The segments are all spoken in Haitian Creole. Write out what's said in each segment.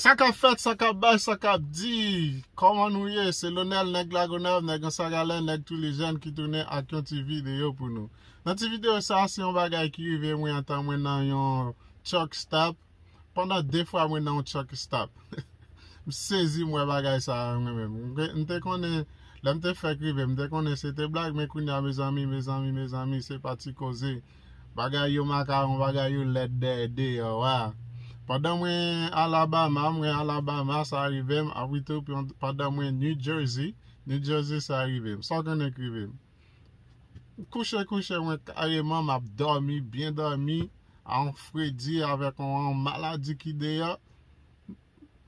Sa kap fèt, sa kap bay, sa kap di, kòman nou ye, se Lonel nèg Lagonav, nèg Ansagalè, nèg Twilejèn ki tounen ak yon ti videyo pou nou. Nan ti videyo sa, se yon bagay ki rive mwen antan mwen nan yon truck stop, pandan 2 fwa mwen nan yon truck estop. M sezi m wè bagay sa a mwen menm. M te konnen, lè m te fèk rive, m te konnen se te blag men kounya mezanmi, mezanmi, mezanmi, se pa ti koze. Bagay yo makaron bagay yo lèd dèyè deyò wa pandan mwen Alabama mwen Alabama sa rivem apwi tou pandan mwen New Jersey New Jersey sa rivem sa w konnen k rivem kouche kouche mwen kareman map dòmi byen dòmi a on fredi avèk on maladi ki deyò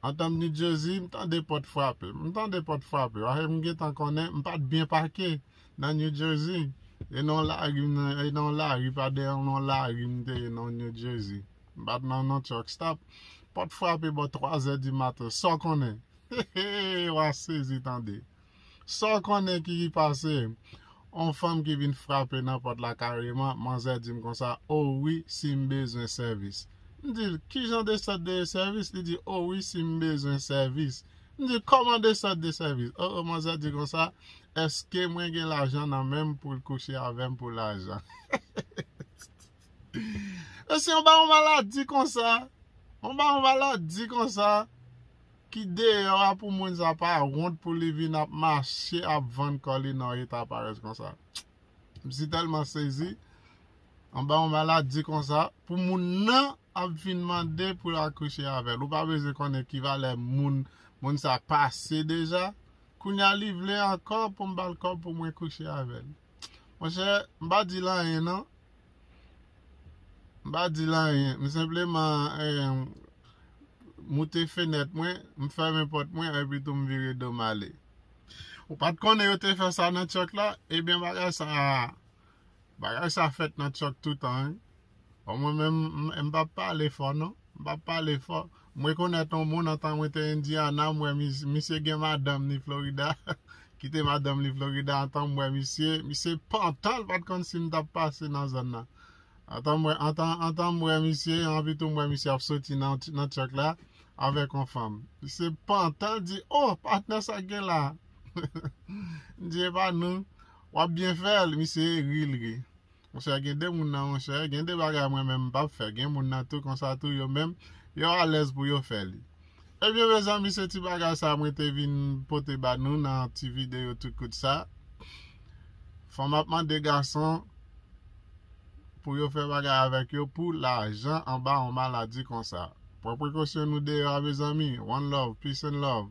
antan m New Jersey m tande pòt frape m tande pòt frape paske m gentan konnen m pat byen pake. Nan New Jersey. E nan yon lari m e nan yon lari pa dèyè yon lon lari m te ye nan New Jersey. M pa t nan yon truck stop. Pòt frape bò twazè di maten. Sa w konnen? Heheheh wa sezi tande. Sa w konnen ki pase? Yon fanm ki vin frape nan pòt la kareman, manzè di m konsa, O wi, si m bezwen sèvis. M di l, Ki jan de sòt de sèvis? Li di, O wi, si m bezwen sèvis. M di l, Kòman de sòt de sèvis? O o, manzè di konsa, Eske mwen gen lajan nan menm poul kouche avèm pou lajan Mesye yon baron maladi konsa Yon baron maladi konsa Ki deyò a pou moun sa pa wont pou li vin ap mache ap vann kò li nan yon eta parèz konsa M si tèlman sezi Yon baron maladi konsa Pou moun nan ap vin mande poul al kouche avèl Ou pa bezwen konnen ki valè moun moun sa pase deja Kounya li vle ankò pou m bal kòb pou mwen kouche avèl monchè m pa dil anyen non m pa dil anyen m senpleman moute fenèt mwen m fèmen pòt mwen epi tou m vire dom ale ou pat konnen yo te fè sa nan tchòk la ebyen bagay sa Bagay sa fèt nan tchòk toutan wi. Bon mwen menm m pap pale fò non. M pap pale fò. M rekonèt on moun antan mwen te Indiana m wè misye gen madanm ni Florida ki te madanm li Florida antan m wè misye misye pantan l pat konn si m tap pase nan zòn nan. Antan mwen antan antan m wè misye anpi tou m wè misye ap soti nan tchòk la avèk on fanm. Misye pantan l di oh patnè sak gen la. M di epa nou. Wap byen fèl misye ri l ri. Monchè gen de moun nan monchè gen de bagay mwen menm m pap fè gen moun nan tou konsa tou yo menm yo alèz pou yo fè li ebyen mezanmi se ti bagay sa mwen te vin pote ba nou nan ti videyo tout kout sa fò map mande gason pou yo fè bagay avèk yo pou lajan anba yon maladi konsa pran prekosyon nou deyò a mezanmi one love peace and love.